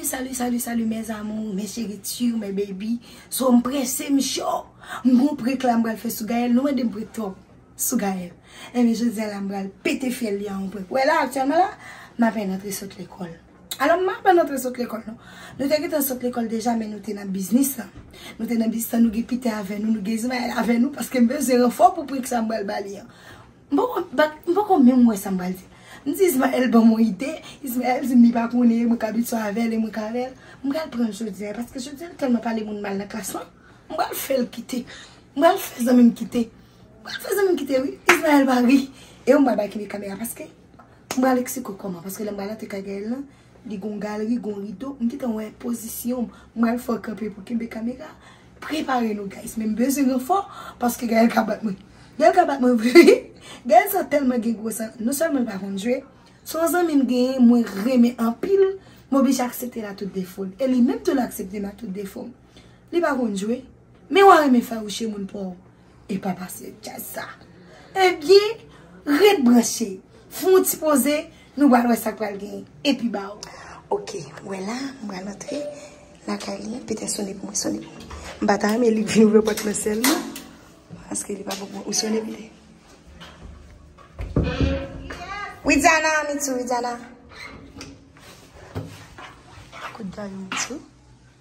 Salut salut salut salut mes amours mes chéritures mes baby so m prese m cho m gon prek la m bral fè sou Gaël nou mande m prek trop sou Gaël e eh men jodi a la m bral pete fyèl li an prek wè la aktyèlman la m apen rantre sot lekòl Alò, m aprann antre sot lekòl nou. Nou te gentan sot lekòl deja men nou te nan biznis lan. Nou te nan biznis lan, nou gen Pita avè nou, nou gen Izmayèl avè nou paske m bezwen ranfò pou prik sa m pral ba li an. M poko bak, m poko menm wè sa m pral di. M di Izmayèl ban m yon ide, Izmayèl di m li pa konnen e mwen k abitye avè l e mwen k avè l. M pral pran l jodi a e paske jodi a l tèlman pale moun mal nan klas lan, m pral fè l kite. M pral fè zanmi m kite. M pral fè zanmi m kite wi. Izmayèl va ri e mwen m pral ba l kenbe kamera paske. M pral eksplike w kòman, paske lè m pral antre kay Gaëlle lan, li gon galri, gon rido, m gentan wè pozisyon m, m pral fè w kanpe pou kenbe kamera a, prepare nou guys, men m bezwen ranfò, paske Gaëlle ka bat mwen, Gaëlle ka bat mwen vre wi, Gaëlle sa tèlman gen gwo sa, non sèlman l pa konn jwe, se yon zanmi m genyen mwen renmen anpil, m oblije aksepte l a tout defo l, e li menm tou l aksepte m a tout defo m, li pa konn jwe, men w a renmen fawouche moun pa w. Epa pase djaz sa. Ebyen ret branche. Fè yon ti poze nou bal wè sak pral gen. Epi baw. Ok ou wè la m bal antre la kay li an pete sone pou mwen sone pou mwen. M pata renmen li vin ouvè pòt lan sèl non. Paske li pa bon pou mwen. Ou sone pou mwen. Widiana Mitsou Widiana. Kout djaz Mitsou.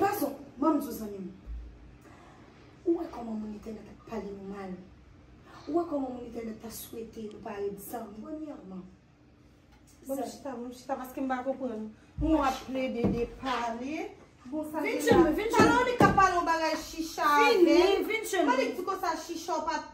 Pazon, Mamzou zanmim, ou wè kòman moun entènèt ap pale nou mal? Ou wè kòman moun entènèt ta swete nou pa ret zanmi? Premyèman, Bon m chita, bon m chita paske m pa konprann. Moun ap plede de pale. Bon sa gen la? Vin tchenbe, vin tchenbe. Pale w li ka pale yon bagay chicha avè l. Fini, vin tchenbe. Mwen li di konsa chicha ou pa.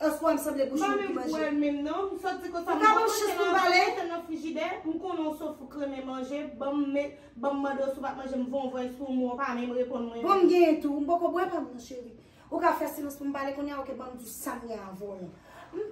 Eske wèm sanble bouch moun ki manje. Mwen pa menm wèl menm non. M sot di konsa m poko konn chans pou pale. Mwen nan frijidè, m konnen w sof ou kremen manje, banm met, banm mande w si w pa k manje m vonvwen sou w men w pa menm reponn mwen. Bon m genyen tou. M poko bwè pa m non cheri. Ou ka fè silans pou m pale kounya ok banm di w sam gen avè w.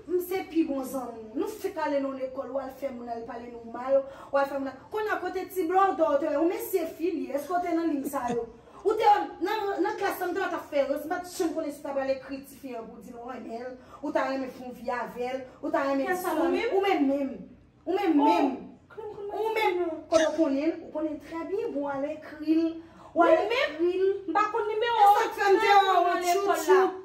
M se pi bon zanmi w. Nou fèk ale nan w lekòl wal fè moun al pale nou mal, wal fè moun al, kounya kote ti blòdò w te wè, yon mesye fi li, eske w te nan liy sa yo? Ou te nan klas la, m te wè w t ap fè rans, m pa t janm konnen si w ta pral ekri tifi an pou w di l ou renmen l, ou ta renmen fon vi avè l, ou ta renmen di sou li, ou menm menm, ou menm menm, ou menm kote w konnen l, ou konnen l trè byen pou w al ekri l, w al ekri l, e sa k fè m te wè w tchoup tchoup.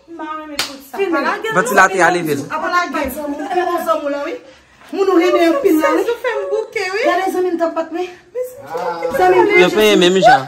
Vantilatè a leve l. Yo peye menm jan.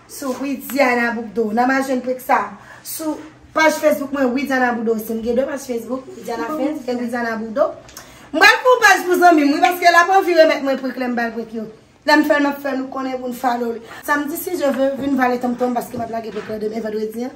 Sou Widiana Bourdeau. Nan ma jwenn trik sa. Sou paj Facebook mwen Widiana Bourdeau osi. M gen 2 paj Facebook. Widiana Fans e Widiana Bourdeau. M pral fè yon paj pou zanmi m wi. Paske l ap anvi remèt mwen trik lè m ba l trik yo. Lè m fè l m ap fè nou konnen pou n follow li. Samdi si Dye ve, vin vale tonmtonm paske m ap lage trik lan demen vandredi an.